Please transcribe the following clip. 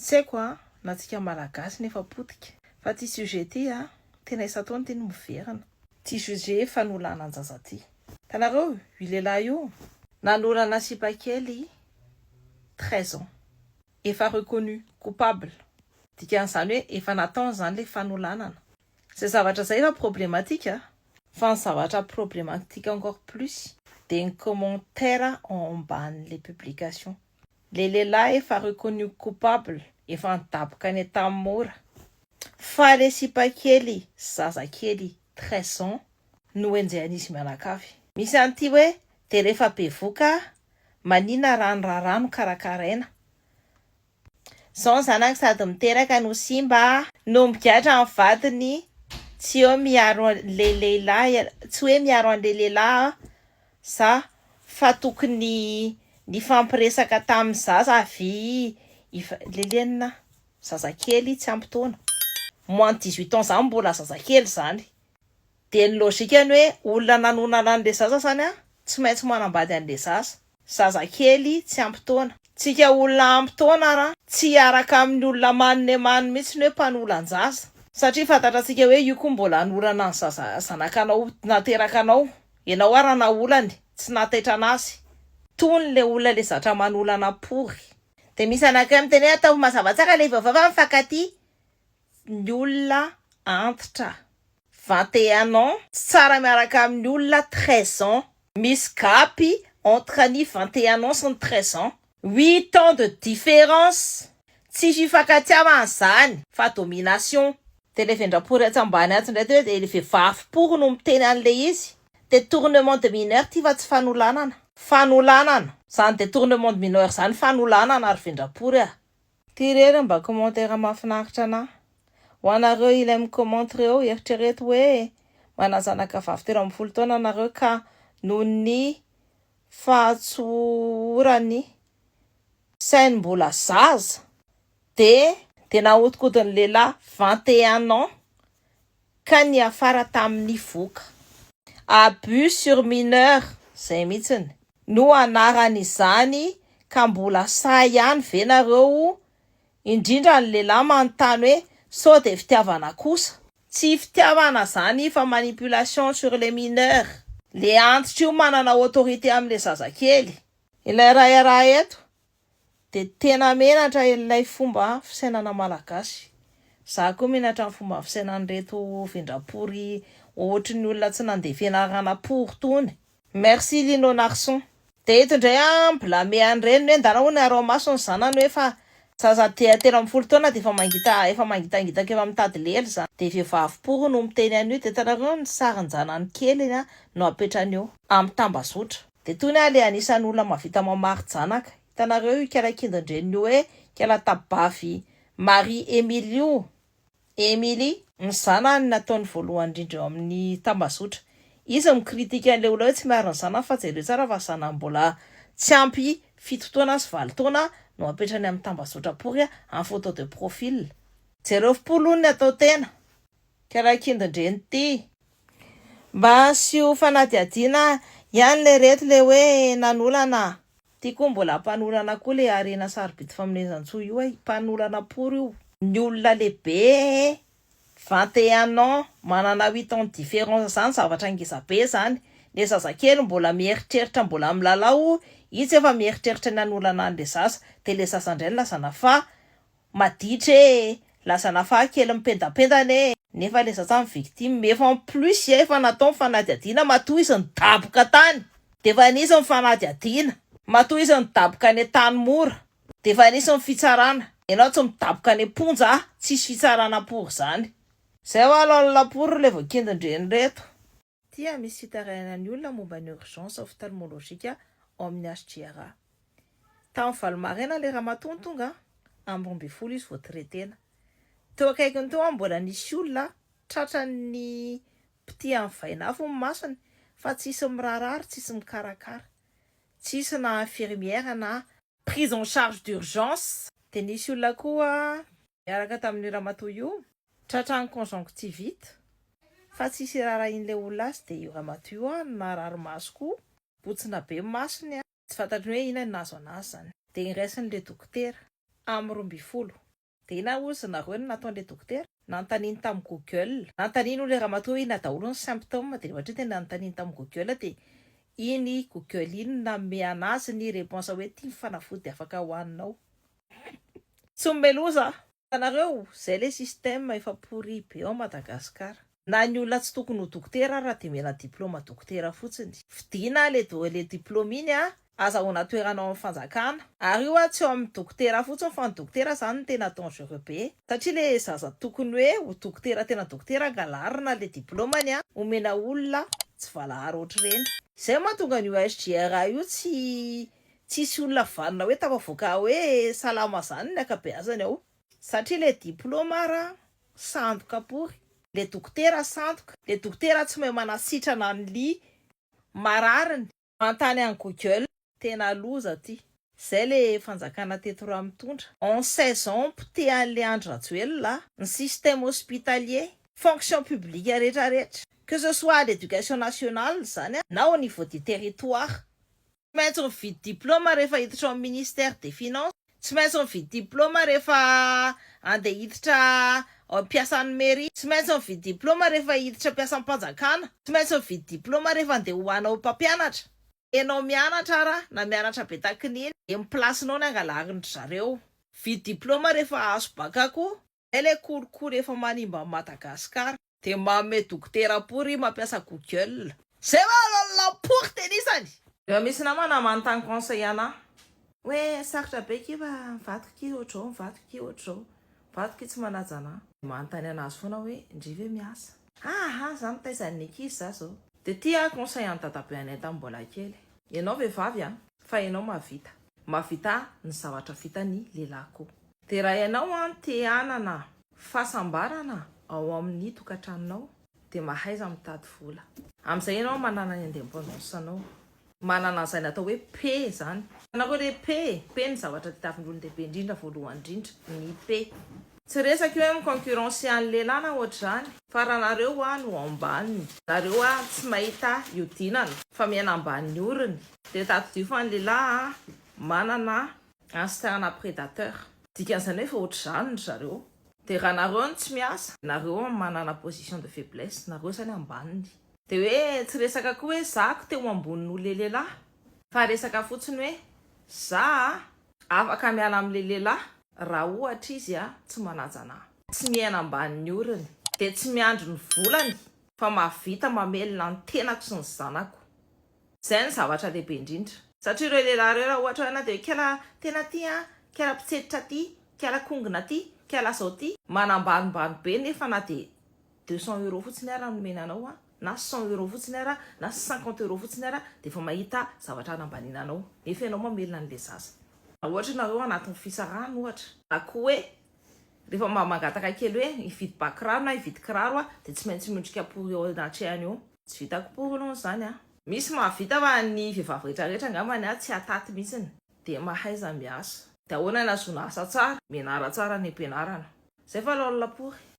Tsy haiko a, na tsika malagasy nefa potika. Fa ty sujet ty a, tena isan-taona ty no miverina. Ty sujet fanolanan-jaza ty. Tanareo io lehilahy io? Nanolana sipa kely treize ans. Efa reconnu coupable. Dikan'izany hoe efa nataony izany ilay fanolanana. Izay zavatra izay efa problematique a. Fa ny zavatra problematique encore plus dia ny commentaires ao ambanin'ilay publication. Le lehilahy efa reconnu coupable efa nidaboka ny tam mora fa le sipakely sy zazakely treize ans no enjehan'izy mianakavy. Misy an'ity hoe de refa bevoka manina ra ny raharaha no karakaraina Zao ny zanaka sady miteraka no simba. No migadra ny vadiny tsy eo miaro an'le lehilahy tsy hoe miaro an'le lehilahy a. Sa fa tokony nifampiresaka tamin'ny zaza avy i Lelenina? Zazakely tsy ampy taona, moins de dix huit ans zany mbola zazakely zany. Dia ny logikany hoe olona nanonana an'ilay zaza zany an, tsy maintsy manambady an'ilay zaza. Zazakely tsy ampy taona. Tsika olona ampy taona ara tsy hiaraka amin'ny olona manne many mihitsy ny hoe mpanolan-jaza. Satria fantatratsika hoe io koa mbola hanorana ny zaza, zanakanao naterakanao. Enao ary ana olany tsy nataitra anasy tony le olona le zatra manolana pory. Dia misy anankiray miteny hoe ataovy mazava tsara ilay vaovao fa mifankatia ny olona antitra vingt et un ans, tsy tsara miaraka amin'ny olona treize ans, misy gapy entre ny vingt et un ans sy ny treize ans. Huit ans de différence tsy fifankatiavana zany fa domination. De le vendrapory atsy ambany atsy ndray de le vevavy pory no miteny anle izy, detournement de mineur ty fa tsy fanolanana, fanolanana zany detournement de mineur zany fanolanana ry vendrapory ah. Ty irery mba commentaire mahafinaritra anah. Ho anareo ilay mi comment reo, eritrereto hoe manazanaka vavy telo ambin'ny folo taona nareo ka noho ny fahatsohoran'ny sain'ny mbola zaza dia. Dia nahodikodin'ny lehilahy vingt et un ans ka niafara tamin'ny voka. Abus sur mineur izay mihitsiny no anaran'izany ka mbola sahy ihany ve nareo Indrindra ny lehilahy manontany hoe sao dia fitiavana kosa? Tsy fitiavana zany fa manipulation sur les mineurs. Le antitra io manana autorité amle zazakely. Ilay raharaha eto de tena menatra ilay fomba fisainana malagasy. Za koa menatra ny fomba fisainan'ireto vendrapory ohatry ny olona tsy nandeha fianarana pory tony. Merci Lino Narson. Dia eto indray aho mblame an'i Reny hoe ndana hono araomaso ny zanany hoe fa zaza dia telo ambin'ny folo taona dia efa mangita efa mangitangitaka efa mitady lely zany dia vehivavy pory no miteny an'io dia hitanareo ny sarin-janany keliny a no apetrany eo amin'ny tambazotra dia tony aho le anisan'ny olona mahavita mamari-janaka hitanareo io kela kindon-dreniny io hoe kela tabavy Marie Emile io Emilie. Mizana ny nataony voalohany indrindra eo amin'ny tambazotra. Izy mikritika ny lehilahy hoe tsy miaro ny zanany fa jereo tsara fa zanany mbola tsy ampy fito taona sy valo taona no apetrany amin'ny tambazotra pory amin'ny photo de profil. Jereo fo aloha ny atao tena. Ka raha kindindreny ity. Mba asio fanadihadiana ihany le reto le hoe nanolana Ty koa mbola mpanorana koa le harena sarobidy famonezantsoa io ay, mpanorana pory io. Ny olona lehibe ee, vingt et un ans, manana huit ans de différence zany zavatra ngeza be zany, le zazakely mbola mieritreritra mbola milalao itsy efa mieritreritra ny hanolana anle zaza, de le zaza ndray ny lazana fa Maditra e! Lasa nafaha kely mipendapendana e! Nefa le zazany victime efa en plus ya efa natao ny fanadihadiana matoa izy nidaboka tany defa nisy ny fanadihadiana matoa izy nidaboka any Antanimora defa nisy ny fitsarana enao tsy midaboka any amponja a tsisy fitsarana pour zany zay oa alao ny lapour le voakindin-dreny reto. dia misy fitarainana ny olona momba ny urgence ophtalmologique ao amin'ny HJRA. Tamin'ny valo maraina ilay ramatoa no tonga an, amin'ny roa ambin'ny folo izy vao traitena. Teo akaikiny teo an mbola nisy olona tratran'ny pitihan'ny vaina avy ny masony fa tsisy miraharaha ary tsisy mikarakara. Tsisy na infirmière na prise en charge d'urgence. Dia nisy olona koa. Niaraka tamin'io ramatoa io. Tratran'ny conjonctivite. Fa tsy hisy irarahian'ilay olona azy dia io ramatoa io an no naharary maso koa. Botsina be ny masony an. Tsy fantatry ny hoe inona no nahazo anazy izany. Dia iraisin'ilay dokotera. Amin'ny roa ambin'ny folo. Dia inona hozy nareo no nataon'ilay dokotera? Nanontaniany tamin'ny google. Nanontaniany hono ilay ramatoa hoe inona daholo ny symptômes dia ohatry ny tena nanontaniany tamin'ny google dia iny google iny no nanome anazy ny réponse hoe ity ny fanafody afaka hohaninao. Tsy mome loza ah. Hitanareo zay le système efa pourri be ao Madagascar. Na ny olona tsy tokony ho dokotera ara de omena diploma dokotera fotsiny. Fidina ah le do le diploma iny ah. Azahoana toerana ao amin'ny fanjakana. Ary io ah tsy ao amin'ny dokotera fotsiny fa ny dokotera zany no tena dangereux be. Satria le zaza tokony hoe ho dokotera tena dokotera angalarina le diplomany ah. Omena olona tsy valahara ohatr'ireny. Zay mahatonga an'io SGRA io tsy Tsisy olona vanona hoe tafavoaka hoe salama zany ny akabeazany ao. Satria le diploma ara sandoka pory. Le dokotera sandoka. Le dokotera tsy mahay manasitrana an li marariny. Manontany any google. Tena loza ty. Zay le fanjakana teto ra mitondra. En seize ans poteha an'le Andry Rajoelina a. Ny système hospitalier, fonction publique rehetra rehetra, que ce soit à l'éducation nationale zany na au niveau du territoire Tsy maintsy mividy diploma rehefa hiditra ao amin'ny ministère des finances. Tsy maintsy mividy diploma rehefa andeha hiditra mpiasan'ny mairie. Tsy maintsy mividy diploma rehefa hiditra mpiasam-panjakana. Tsy maintsy mividy diploma rehefa andeha ho anao mpampianatra. Enao mianatra ara na mianatra be takin'iny dia ny place-nao ny angalarindry zareo. Vidy diploma rehefa azo bac koa. Ilay kolikoly efa manimba an'i Madagascar. Dia manome dokotera pory ry mampiasa google. Zay va role lampory tenisany. Efa misy namana manontany conseil anah hoe sarotra be ki fa ny vadiko ki ohatr'izao ny vadiko ki ohatr'izao ny vadiko ki tsy manaja anah. Dia manontany anazy foana hoe ndry ve miasa. Ahh ah za mitaiza an'ny ankizy za zao. Dia ty ah conseil an'i dadabe anay tamin'ny mbola kely. Ianao vehivavy ah fa ianao mahavita. Mahavita ny zavatra vitan'ny lehilahy koa. Derahy anao an te hanana fahasambarana ao amin ny tokatranonao de mahaiza mitady vola. Amin izay ianao manana ny indépendance anao. Manana an'izay natao hoe paix izany. Hitanareo re paix e, paix ny zavatra tadiavin olon-dehibe indrindra voalohany indrindra ny paix. Tsy resaka io hoe mi concurrencer an'ny lehilahy na ohatr'izany fa raha nareo hoa no ambany, nareo hoa tsy mahita hiodinana fa miaina ambany orony de tadidio fa ny lehilahy manana Gangster na predateur. Dikan'izany hoe efa ohatr'izany ry zareo. Dia raha nareo no tsy miasa, nareo an manana position de faiblesse, nareo zany ambaniny. Dia hoe tsy resaka koa hoe za ko teo ambony noho le lehilahy, fa resaka fotsiny hoe za a afaka miala am le lehilahy raha ohatra izy a tsy manaja anahy. Tsy miaina ambanin'ny orony, dia tsy miandry ny volany fa mahavita mamelona ny tenako sy ny zanako. Izay no zavatra lehibe indrindra. Satria ireo lehilahy ireo raha ohatra hoe ianao dia hoe kala tena aty an, kala mpitsenitra aty, kala kongona aty, kala izao aty. Manambanimbany be nefa na dia deux cents euros fotsiny ara no nomena anao an, na cent euros fotsiny ara, na cinquante euros fotsiny ara dia efa mahita zavatra hanambaniana anao. Nefa ianao mamelona an'ilay zaza. Raha ohatra ianareo ao anatin'ny fisarahana ohatra. Na koa hoe Rehefa mba mangataka kely hoe hividy ba kiraro na hividy kiraro aho dia tsy maintsy miondrika pory eo anatrehany eo. Tsy vitako pory aloha izany an! Misy mahavita fa ny vehivavy rehetra rehetra angambany an tsy hataty mihitsy dia mahaiza miasa. Dia ahoana ny ahazoana asa tsara? Mianara tsara any am-pianarana. Izay fa laola pory.